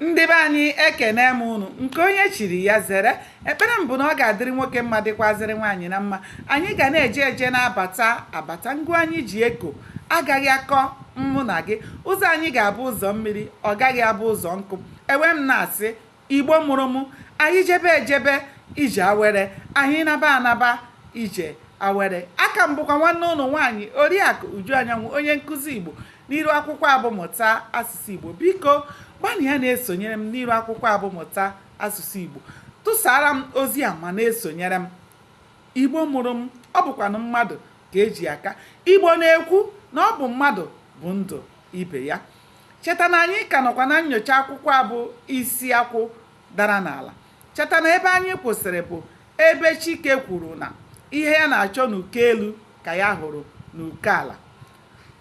ndị be anyị ekene m unu nke onye chiri ya zere ekpere m bụ na ọ ga-adịrị nwoke mma dịkwazịrị nwaanyị na mma anyị ga na-eje eje na-abata abata ngụ anyị ji eko agaghị akọ mụ na gị ụzọ anyị ga-abụ ụzọ mmiri ọ gaghị abụ ụzọ nkụ ewee m na-asị igbo mụrụ mụ anyị jebe ejebe ije awere anyị naba anaba ije awere aka m bụkwa nwanne unu nwaanyị oriakụ uju anyanwụ onye nkụzi igbo n'iru akwụkwọ a bụ mụta asụsụ Igbo biko gbalịa na-esonyere m n'iru akwụkwọ a bụ mụta asụsụ Igbo tụsara m ozi a ma na-esonyere m Igbo mụrụ m ọ bụkwanụ mmadụ ka e ji aka Igbo na-ekwu na ọ bụ mmadụ bụ ndụ ibe ya cheta na anyị ka nọkwa na nyocha akwụkwọ a bụ isi akwụ dara n'ala cheta na ebe anyị kwụsịrị bụ ebe Chike kwuru na ihe ya na-achọ n'uko elu ka ya hụrụ n'uko ala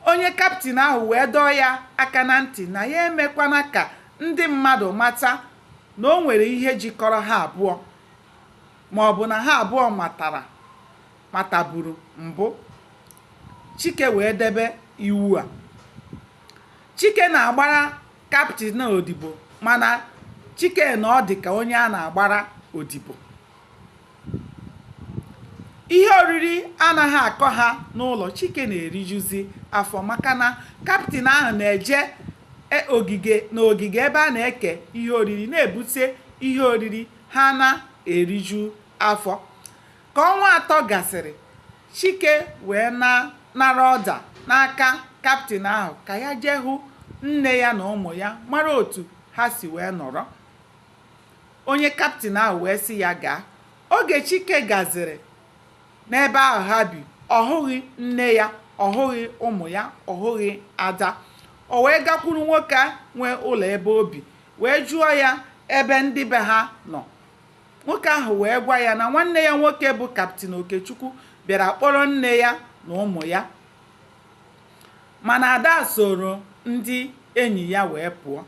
Onye kaptịn ahụ wee dọọ ya aka na ntị na ya emekwana ka ndị mmadụ mata na o nwere ihe jikọrọ ha abụọ ma ọ bụ na ha abụọ matara mataburu mbụ. Chike wee debe iwu a. Chike na-agbara kaptịn a odibo mana Chike na ọ dị ka onye a na-agbara odibo. Ihe oriri anaghị akọ ha n'ụlọ, Chike na-erijuzi afọ maka na kaptịn ahụ na-eje n'ogige ebe a na-eke ihe oriri na-ebute ihe oriri ha na-eriju afọ. Ka ọnwa atọ gasịrị, Chike wee nara ọda n'aka kaptịn ahụ ka ya jee hụ nne ya na ụmụ ya mara otu ha si wee nọrọ. Onye kaptịn ahụ wee sị ya gaa. Oge Chike gaziri n'ebe ahụ ha bi, ọ hụghị nne ya, ọ hụghị ụmụ ya, ọ hụghị Ada. O wee gakwuru nwoke nwe ụlọ ebe o bi wee jụọ ya ebe ndị be ha nọ. Nwoke ahụ wee gwa ya na nwanne ya nwoke bụ Kaptịn Okechukwu bịara kpọrọ nne ya na ụmụ ya. Mana Ada soro ndị enyi ya wee pụọ.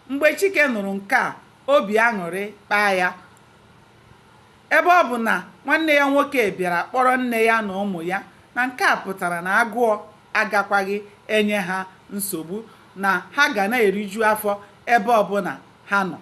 Mgbe Chike nụrụ nke a, obi aṅụrị kpaa ya ebe ọ bụ na nwanne ya nwoke bịara kpọrọ nne ya na ụmụ ya na nke a pụtara na agụọ agakwaghị enye ha nsogbu na ha ga na-eriju afọ ebe ọbụla ha nọ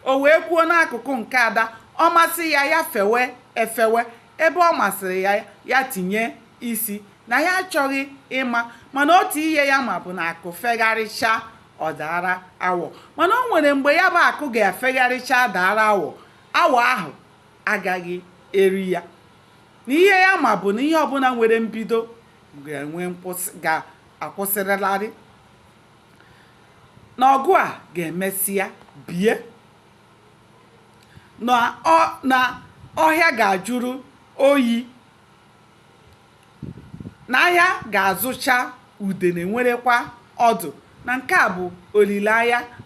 o wee kwuo n'akụkụ nke ada ọ masị ya ya fewe efewe ebe ọ masịrị ya ya tinye isi na ya achọghị ịma mana otu ihe ya ma bụ na akụ fegharịcha ọ daara awọ mana o nwere mgbe ya bụ akụ ga-efegharịcha daara awọ awọ ahụ agaghị eri ya na ihe ya ma bụ na ihe ọbụla nwere mbido ga-akwụsịrịlarị na ọgụ a ga-emesịa bie na ọhịa ga-ajụrụ oyi na ahịa ga-azụcha udene enwerekwa ọdụ na nke a bụ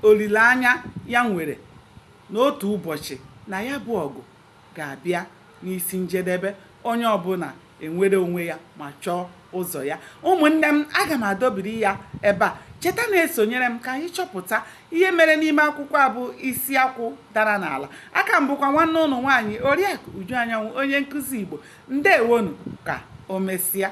olileanya ya nwere na otu ụbọchị na ya bụ ọgụ ga-abịa n'isi njedebe onye ọbụla enwere onwe ya ma chọọ ụzọ ya ụmụnne m aga m adọbiri ya ebe a cheta na-esonyere m ka anyị chọpụta ihe mere n'ime akwụkwọ a bụ isi akwụ dara n'ala a ka m bụkwa nwanne unu nwaanyị oriakụ uju anyanwụ onye nkụzi igbo ndeewonụ ka o mesịa